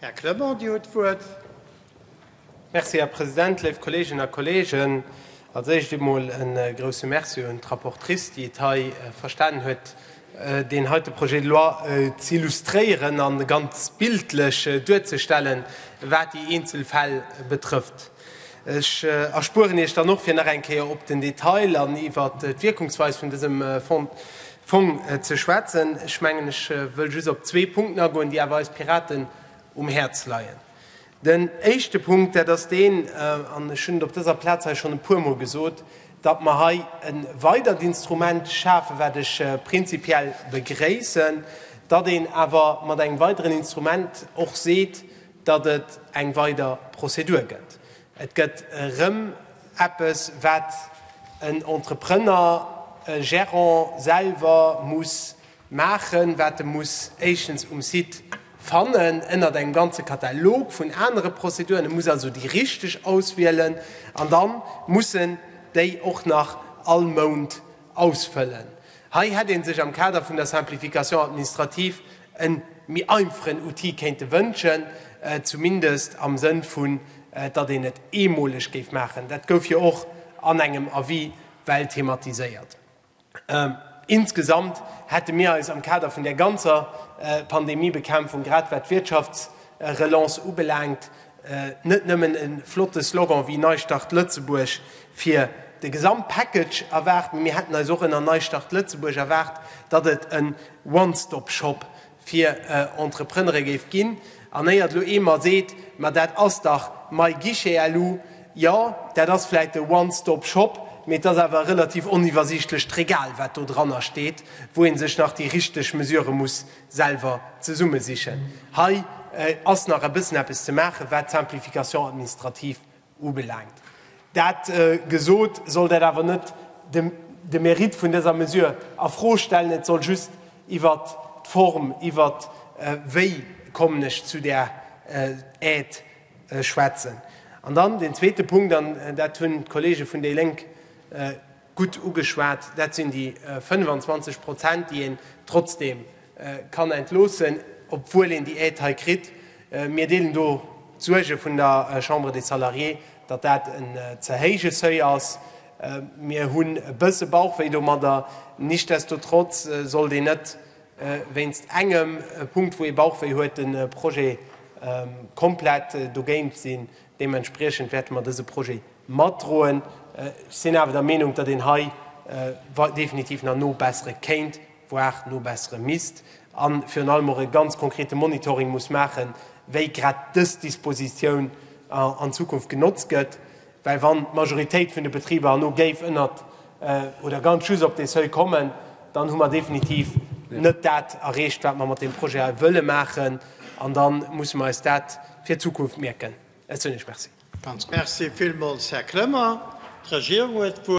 Här Clement, Dir hutt d'Wuert. Merci, Här President. Léif Kolleeginnen a Kolleegen, als Éischt emol e grouse Merci un d'Rapportrice, déi et hei verstanen huet, deen heite Projet de loi z'illustréieren a ganz bildlech duerzestellen, wat déi eenzel Fäll betrëfft. Ech erspueren Iech dann och, fir nach eng Kéier op den Detail an iwwert d'Wirkungsweis vun dësem Fonds Fong ze schwätzen. Ech mengen, ech wëll just op zwee Punkten agoen, déi awer eis Piraten um Häerz leien. Den éischte Punkt, dat ass deen, an ech hunn et op dëser Plaz hei schonn e puermol gesot, datt mer hei e weidert Instrument schafen, wat ech prinzipiell begréissen, datt een awer mat engem weideren Instrument och seet, datt et eng weider Prozedur gëtt. Et gëtt erëm. Eppes, wat en Entrepreneur, e Gerant selwer muss maachen, wat e muss éischtens um Site fannen, ënnert engem ganze Katalog vun anere Prozeduren. E muss also déi richteg auswielen an da muss en déi och nach all Mount ausfëllen. Hei hätt ee sech am Kader vun der Simplification administrative en méi einfachen Outil kéinte wënschen, zumindest am Sënn vun datt een et eemoleg géif maachen. Dat gouf jo och an engem Avis well thematiséiert. Insgesamt hätte mir eis am Kader vun där ganzer Pandemiebekämpfung, grad wat d'Wirtschaftsrelance ubelaangt, Net nëmmen e flotte Slogan wéi Neistart Lëtzebuerg fir de Gesamtpackage erwaart, mee mir hätten eis och ënner Neistart Lëtzebuerg erwaart, datt et en One-Stop-Shop fir Entrepreneure géif ginn. An éiert elo ee mer seet, ma dat ass dach MyGuichetloo, jo, dat ass vläicht e One-Stop-Shop, mee et ass awer e relativ oniwwersiichtlecht Regal, wat do dranner steet, wou ee sech nach déi richteg Mesure muss selwer zesumme sichen. Hei ass nach e bëssen eppes ze maachen, wat d'Simplification administrative ubelaangt. Dat gesot, soll dat awer net de Mérite vun dëser Mesure a Fro stellen. Et soll just iwwert d'Form, iwwert wéi kommen ech zu där Aide, schwätzen. An dann deen zweete Punkt, an dat hunn d'Kollege vun déi Lénk, Gutt ugeschwat, dat sinn déi 25 Prozent, déi een trotzdeem kann entloossen, obwuel een déi Aide hei kritt. Mir deelen do d'Suerge vun der Chambre des Salariés, datt dat en ze héije Seuil ass. Mir hunn e bësse Bauchwéi domadder. Nichtsdestotrotz sollt een net wéinst engem Punkt, wou ee Bauchwéi huet, de Projet komplett dogéint sinn. Deementspriechend wäerte mer dëse Projet matdroen. Ech sinn awer der Meenung, datt een hei definitiv nach nobessere kéint, voire nobessere misst, a virun allem och e ganz konkrete Monitoring muss maachen, wéi grad dës Dispositioun an Zukunft genotzt gëtt. Well wann d'Majoritéit vun de Betriber herno géif ënnert oder ganz just op dee Seuil kommen, dann hu mer definitiv net dat erreecht, wat mer mat deem Projet hei wëlle maachen. An da musse mer eis dat fir d'Zukunft mierken. Ech soen Iech Merci. Merci villmools, Här Clement. D'Regierung huet d'Wuert.